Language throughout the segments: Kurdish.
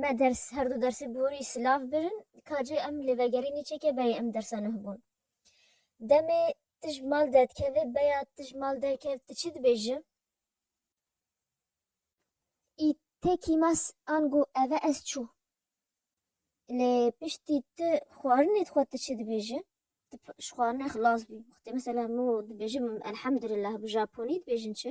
Me ders her du dersê bi wî silav birin ka cê em li vegerê nîçekê beyê em dersa nuh bûn. Demê tu ji mal dedkevê beya tu ji mal derkev tu çi dibêji? Î tê kîmas ango eve ez çû. Lê piştî tu xwarinê dixwe tu çi dibêji? Tu ji xwarinê xilas bî. Wextê mesela min û dibêjin elhemdulillah bi japonî dibêjin çi?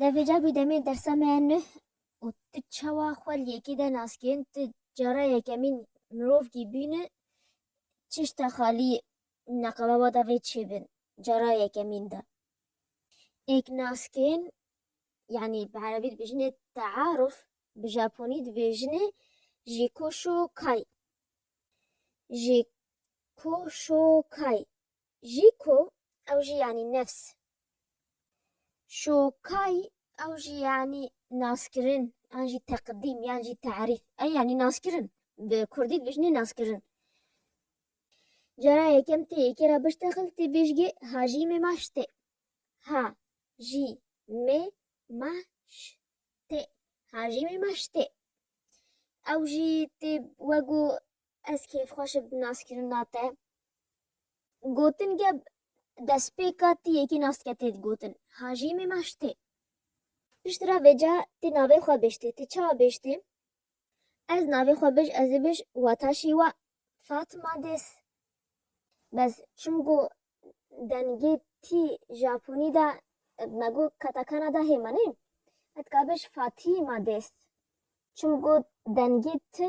Levêca bî demê dersa me ya nuh û tu çawa xwe li yekê de nas kirin, tu cara yekemîn mirov kî bîne, çi şta xalî neqebaba da vê çê bin cara yekemîn de. Êk nas kirin yanî bi erebî dibêjinê tearuf, bi japonî dibêjinê jikoshokai. Jikoshokai. Jî ku ew jî yanî nefs. Şokay ew jî yanî naskirin yan jî teqdîm yan jî terîf e yanî naskirin bi kurdî dibêjinê naskirin. Cara yekem tê yekê ra biştexil tê bêjgê hajî mê maş tê. Ha jî mê maş tê hajî mê maş tê. Ew jî tê wego Ez kêfxweş im bi naskirina te. Gotin ge destpêka ti yekî naske tê digotin. Hajî mêmaş tê. Piştre vêca ti navê xwe bêjtê. Ti çawa bêjtê? Ez navê xwe bij ez ê bij wata şêwa Fatima des. Bes çimku dengê ti Japonî de mego katakana de hêmanê. Etka bij Fatima des. Çimku dengê ti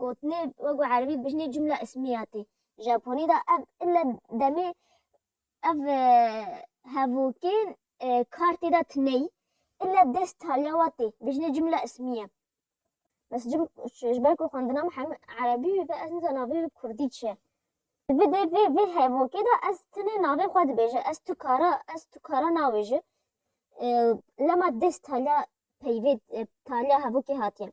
Gotinê wek bi erebî dibêjinê cumla ismiya tê. Japonî de ev ille demê ev hevokên kar tê de tineyî ille dest taliya wa tê. Bêjinê cumla ismiye. Bes cum ji ber ku xwendina min hemû erebî wî be ez nizan navê wî kurdî çi ye. Di vê dê vê vê hevokê de ez tenê navê xwe dibêje. Ez tu kara ez tu kara nabêje. Lema dest taliya peyvê taliya hevokê hatiye.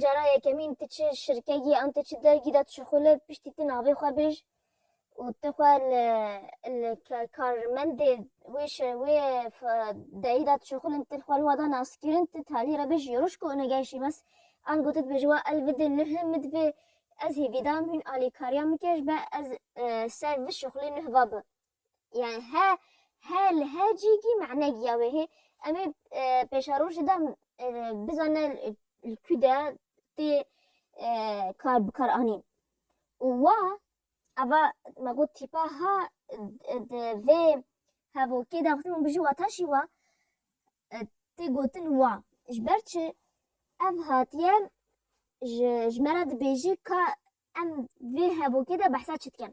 Cara yekemîn tu çi şirkegî an tu çi dergî de tu ji xwe li piştî tu navê xwe bêj û tu xwe li li karmendê wê wê deyî de tu ji xwe li tu xwe li wada nas kirin tu talî re bêj yoroş ku ina gel şîmes ango tu dibêj wa el vidin nuh min divê ez hêvî dam hûn alîkariya min kir be ez ser vi şixulê nuh va bi. yani he he li he cîgî mane giya wê hê em ê pêşerojê de bizane li kû de tê kar bikar anîn û wa eva me got tîpa ha di vê hevokê de xwe min bijî wata jî wa tê gotin wa ji ber çi ev hatiye ji ji me re dibêjî ka em vê hevokê de behsa çi dikin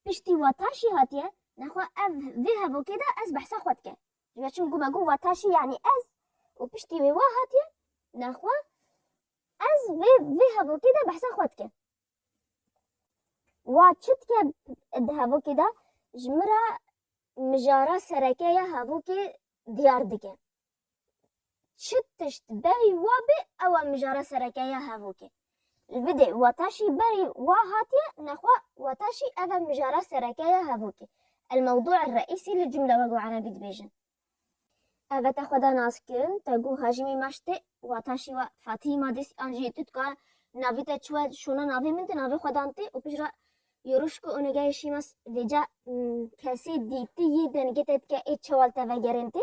Piştî wataşî hatiye nexwe ev vê hevokê de ez behsa xwe dike. Ji ber çim ku me got wataşî yanî ez û piştî wê wa hatiye nexwe ez vê vê hevokê de behsa xwe dike. Wa çi dike di hevokê de ji min re mijara sereke ya hevokê diyar dike. Çi tişt berî wa bê ew e mijara sereke ya hevokê. Li vidê wataşî berî wa hatiye nexwe wataşî ev e mijara sereke ya hevokê, El-Mewdû El-Reîsî li cumle wek bi erebî dibêjin. Ev e te xwe da naskirin, te got Hajîmî ma ji te wataşî we Fatîhî ma dîs an jî tu dikare navê te çi we şona navê min tu navê xwe dan tê û pişt re Yoruşku Onegayê Şîmas vêca kesê dîtî yê dengê te dike ê çewal te vegerên tê.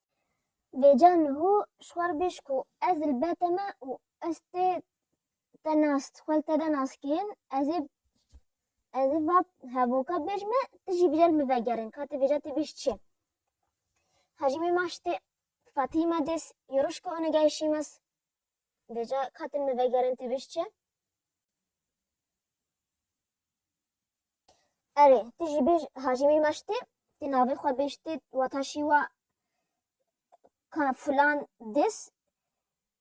Vêca niho ji xwe re bêj ku ez li be te me û ez tê te nas xwe li te de nas kirin, ez ê ez ê va hevoka bêj me tu jî bijêr min vegerin ka tu vêca te bêj çi? Hacî mê ma ji te Fatî ma dês yê roj ke one geh şîmes vêca ka tu min vegerin tu bêj çi? Erê, tu jî bêj Hacî Mîr Meştê, tu navê xwe bêj tê wata şîwa ka filan dis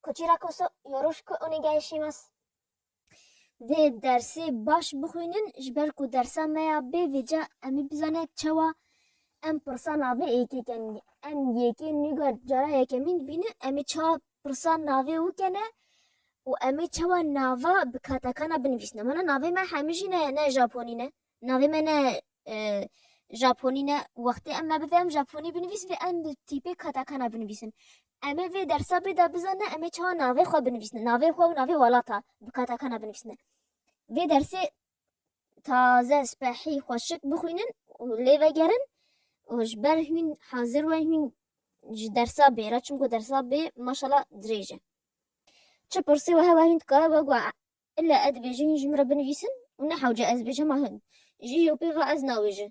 koçîra koso yoroş ku onê geyê şîmas. Vê dersê baş bixwînin ji ber ku dersa me ya bê vêca em ê bizane çawa em pirsa navê yekê kenê. Em yekê nîgar cara yekemîn dibîne em ê çawa Pirsa navê û ke ne û emê çawa nava bi katakana binivîsne. Wena navê me hemî jî ne ne Japonî ne. Navê me ne Japonî ne. Wextê em me bidê em Japonî binivîs vê em bi tîpê katakana binivîsin. Emê vê dersa bê de bizane emê çawa navê xwe binivîsne. Navê xwe û navê welata bi katakana binivîsne. Vê dersê taze spehî xweşik bixwînin û lê vegerin û ji ber hûn hazir we hûn ji dersa bê re çimku dersa bê maşala dirêj e. Çi pirsê wehe we hûn dikare we got illa ez dibêjim hûn ji min re binivîsin û ne hewce ez dibêjim hema hûn ji îro pê ve ez nabêjim.